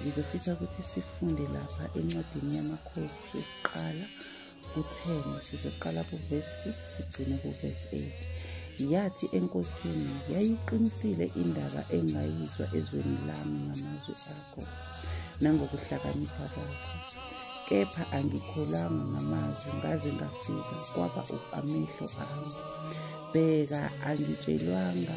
ngizofisa ukuthi sifunde lapha encwadini yamakhosi kuqala ku-10 sizoqala kuvesi 6 sigcine kuvesi 8 yathi enkosini yayiqinisile indaba engayizwa ezweni lami ngamazwi akho nangokuhlakanipha kwakho kepha angikholanga ngamazwi ngaze ngafika kwaba amehlo ami bheka angitshelwanga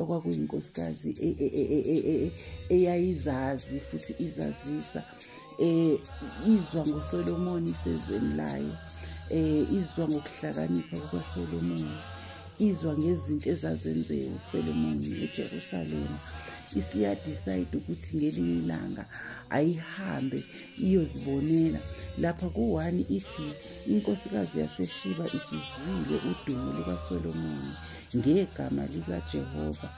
okwakuyinkosikazi e, e, e, eyayizazi futhi izazisa eh izwa ngoSolomon isezweni layo eh izwa ngokuhlakanipha kukaSolomon izwa ngezinto ezazenziwe uSolomon eJerusalem isiyadecide ukuthi ngelinye ilanga ayihambe iyozibonela lapha kuwani ithi inkosikazi yaseshiba isizwile udumo lukaSolomon ngegama likaJehova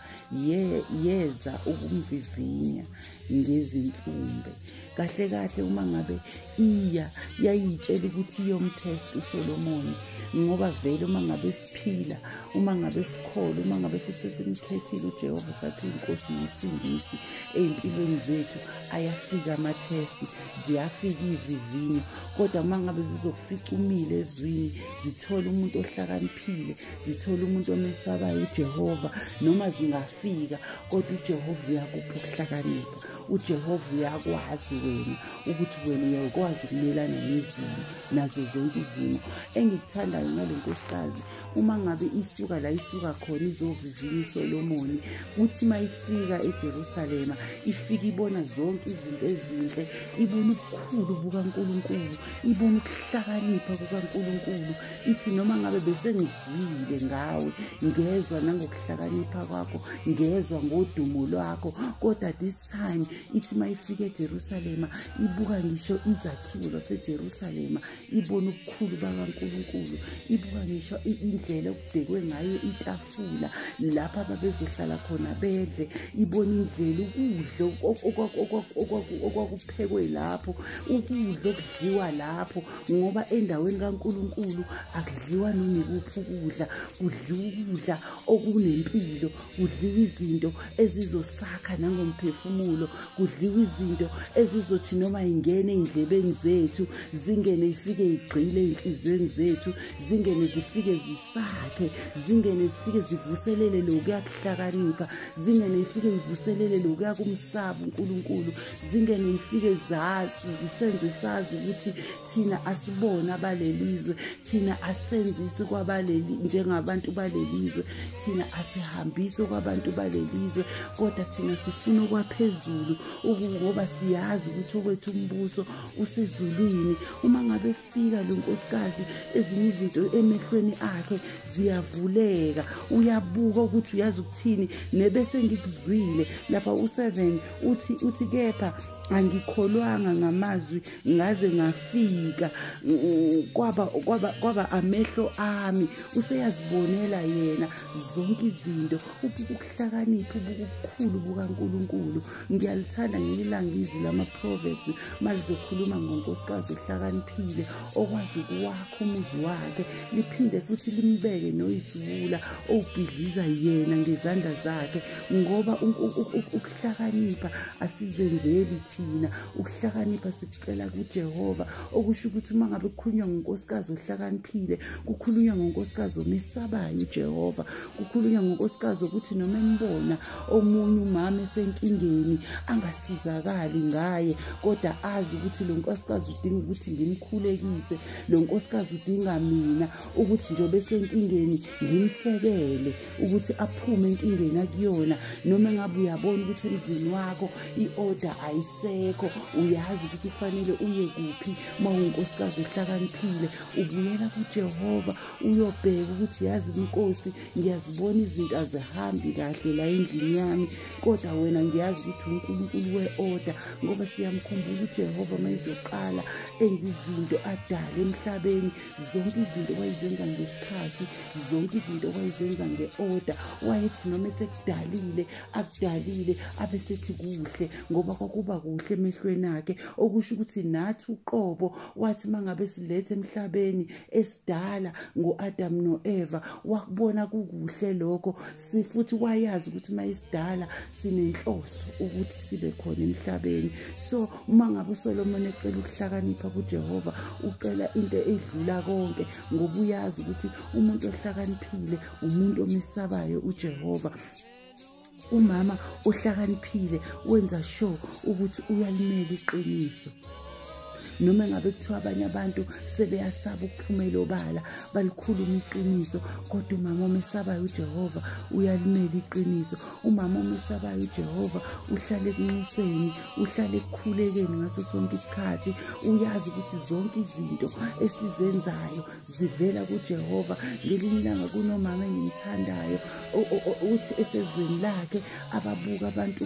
ye yeza ukumvivinya ngezimfumbe kahle kahle uma ngabe iya yayitshela ukuthi iyomtest uSolomoni ngoba vele uma ngabe siphila uma ngabe sikholwa uma ngabe futhi sesimkhethile uJehova sathi inkosi nesindisi ezimpilweni zethu ayafika ama test ziyafika ivivinyo kodwa uma ngabe zizokufika umile ezwini zithola umuntu ohlakaniphile zithole umuntu omesabayo ujehova noma zingafika kodwa ujehova uyakupha ukuhlakanipha ujehova uyakwazi wena ukuthi wena uyakwazi ukumelana nezimo nazo zonke izimo engikuthandayo ngale nkosikazi uma ngabe isuka la isuka khona izovivinya usolomoni kuthi uma ifika ejerusalema ifike ibona zonke izinto ezinhle ibona ubukhulu bukankulunkulu ibona ukuhlakanipha kukankulunkulu ithi noma ngabe besengizwile ngawe ngezwa nangokuhlakanipha kwakho ngezwa ngodumo lwakho kodwa this time ithi uma ifika ejerusalema ibuka ngisho izakhiwo zasejerusalema ibona ubukhulu bakankulunkulu ibuka ngisho indlela okubhekwe ngayo itafu ukufula lapha babezohlala khona bedle ibona indlela ukudla okwakuphekwe lapho ukudla okudliwa lapho ngoba endaweni kaNkulunkulu akudliwa noma ikuphi ukudla kudliwa ukudla okunempilo kudliwa izinto ezizosakha nangomphefumulo kudliwa izinto ezizothi noma ingene endlebeni zethu zingene ifike igqile enhliziyweni zethu zingene zifike sakhe zingene zifike zivuselele lokuya kuhlakanipha zingene ifike ivuselele lokuya kumsaba uNkulunkulu zingene ifike zazi zisenze sazi ukuthi thina asibona abalelizwe thina asenzisi kwabaleli njengabantu balelizwe thina asihambisi kwabantu balelizwe kodwa thina sifuna okwaphezulu ngoba siyazi ukuthi okwethu umbuso usezulwini uma ngabe sika lo nkosikazi ezinye izinto emehlweni akhe ziyavuleka uyabuka ukuthi uyazi ukuthini nebese ngikuzwile lapha u-seven uthi uthi kepha angikholwanga ngamazwi ngaze ngafika kwaba kwaba kwaba amehlo ami useyazibonela yena zonke izinto ubukuhlakaniphi ubukukhulu bukaNkuluNkulu ngiyalithanda ngelinye ilanga izwi lama-proverbs uma lizokhuluma ngonkosikazi ohlakaniphile okwazi ukuwakha umuzi wakhe liphinde futhi limbeke noyisiwula owubhidliza yena ngezandla zakhe ngoba ukuhlakanipha asizenzeli thina ukuhlakanipha sikucela kujehova okusho ukuthi uma ngabe kukhulunywa ngonkosikazi ohlakaniphile kukhulunywa ngonkosikazi omesabayo ujehova kukhulunywa ngonkosikazi ukuthi noma embona omunye umama esenkingeni angasizakali ngaye kodwa azi ukuthi lo nkosikazi udinga ukuthi ngimkhulekise lo nkosikazi udinga mina ukuthi njengoba esenkingeni ngimsekele ukuthi aphume enkingeni akuyona noma engabe uyabona ukuthi emzini wakho i-order ayisekho uyazi ukuthi kufanele uye kuphi uma unkosikazi ohlakaniphile ubuyela kujehova uyobheka ukuthi yazi inkosi ngiyazibona izinto azihambi kahle la endlini yami kodwa wena ngiyazi ukuthi unkulunkulu we-oda ngoba siyamkhumbula ujehova uma izoqala enza izinto adale emhlabeni zonke izinto wayizenza ngesikhathi zonke izinto wayizenza nge-oda wayethi noma esekudalile akudalile abe sethi kuhle ngoba kwakuba kuhle emehlweni akhe okusho ukuthi nathi uqobo wathi uma ngabe silethe emhlabeni kudala ngoAdam noEva wakubona kukuhle lokho sifuthi wayazi ukuthi mayisidala sinenhloso ukuthi sibe khona emhlabeni so uma ngabe uSolomon ecela ukuhlakanipha kuJehova ucela into edlula konke ngoba uyazi ukuthi umuntu ohlakaniphile umuntu omesabayo uJehova umama ohlakaniphile wenza sure ukuthi uyalimela iqiniso noma ngabe kuthiwa abanye abantu sebeyasaba ukuphumela obala balikhuluma iqiniso kodwa umama omesabayo ujehova uyalimela iqiniso umama omesabayo ujehova uhlale ekunxuseni uhlale ekukhulekeni ngaso sonke isikhathi uyazi ukuthi zonke izinto esizenzayo zivela kuJehova ngelinye ilanga kunomama engimthandayo uthi esezweni lakhe ababuka abantu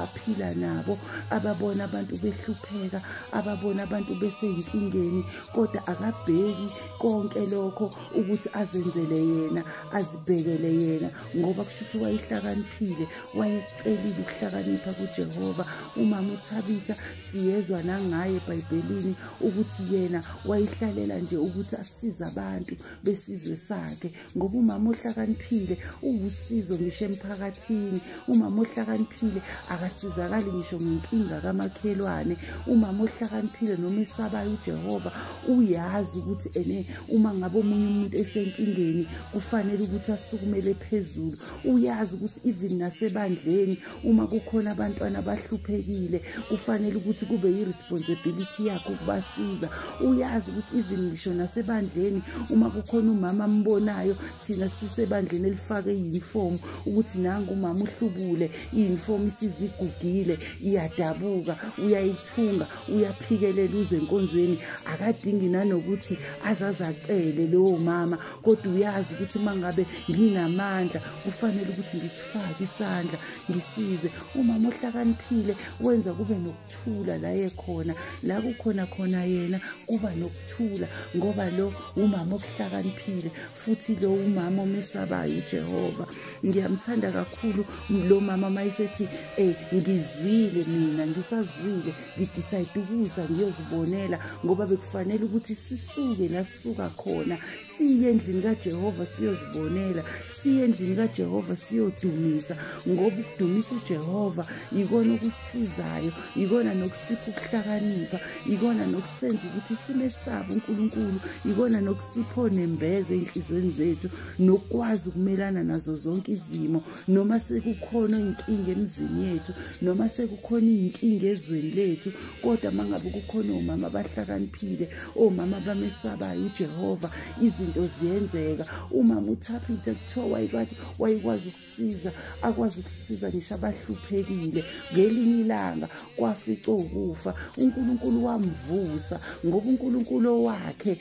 aphila nabo ababona abantu behlupheka ababona abantu beseyinkingeni kodwa akabheki konke lokho ukuthi azenzele yena azibhekele yena ngoba kusho ukuthi wayehlakaniphile wayecelile ukuhlakanipha kuJehova umama uthabitha siyezwa nangaye ebhayibhelini ukuthi yena wayihlalela nje ukuthi asize abantu besizwe sakhe ngoba umama ohlakaniphile uwusizo ngisho emphakathini umama ohlakaniphile akasizakali ngisho ngenkinga kamakhelwane umama ohlakaniphile noma esabayo ujehova uyazi ukuthi ene uma ngabe omunye umuntu esenkingeni kufanele ukuthi asukumele phezulu uyazi ukuthi even nasebandleni uma kukhona abantwana abahluphekile kufanele ukuthi kube yi-responsibility yakho ukubasiza uyazi ukuthi even ngisho nasebandleni uma kukhona umama ambonayo thina sisebandleni elifake i-uniform ukuthi nangu umama uhlubule i-uniform isizigugile iyadabuka uyayithunga uyaphikelela uze enkonzweni akadingi nanokuthi azaze acele lowo mama kodwa uyazi ukuthi uma ngabe nginamandla kufanele ukuthi fake isandla ngisize umama ohlakaniphile wenza kube nokuthula la yekhona la kukhona khona yena kuba nokuthula ngoba lo umama okuhlakaniphile futhi lo umama omesabayo ujehova ngiyamthanda kakhulu lo mama uma esethi um ngizwile mina ngisazwile ngidicide ukuza ngiyozibonela ngoba bekufanele ukuthi sisuke la sisuka khona siye endlini kajehova siyozibonela siye endlini kajehova siyodumisa ngoba ukudumisa ujehova yikona okusizayo yikona nokusipha ukuhlakanipha yikona nokusenza ukuthi sime sabo unkulunkulu yikona nokusipho nembeza ey'nhliziyweni zethu nokukwazi ukumelana nazo zonke izimo noma sekukhona iy'nkinga emizini yethu noma sekukhona iy'nkinga ezweni lethu kodwa uma ngabe kukhona omama abahlakaniphile omama abamesabayo ujehova izinto ziyenzeka umama uthapita kuthiwa wayekwathi wayekwazi ukusiza akwazi ukusiza ngisho abahluphekile ngelinye ilanga kwafica ukufa unkulunkulu wamvusa ngoba unkulunkulu owakhe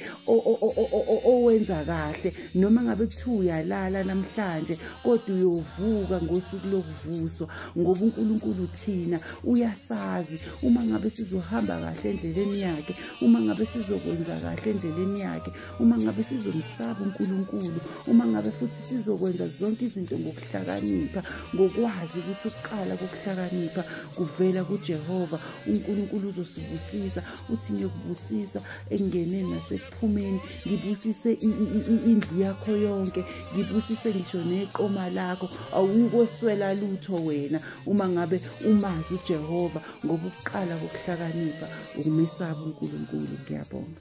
owenza kahle noma ngabe kuthiwa uyalala namhlanje kodwa uyovuka ngosuku lokuvuswa ngoba unkulunkulu thina uyasazi uma ngabe sizohamba kahle endleleni yakhe uma ngabe sizokwenza kahle endleleni yakhe uma ngabe sizomsaba unkulunkulu uma ngabe futhi sizokwenza zonke izinto ngokuhlakanipha ngokwazi ukuthi ukuqala kokuhlakanipha kuvela kujehova unkulunkulu uzosibusisa uthi ngiyokubusisa engeneni nasekuphumeni ngibusise indlu yakho yonke ngibusise ngisho neqoma lakho awukweswela lutho wena uma ngabe umazi uJehova ngokuqala kokuhlakanipha ukumesaba uNkulunkulu ngiyabonga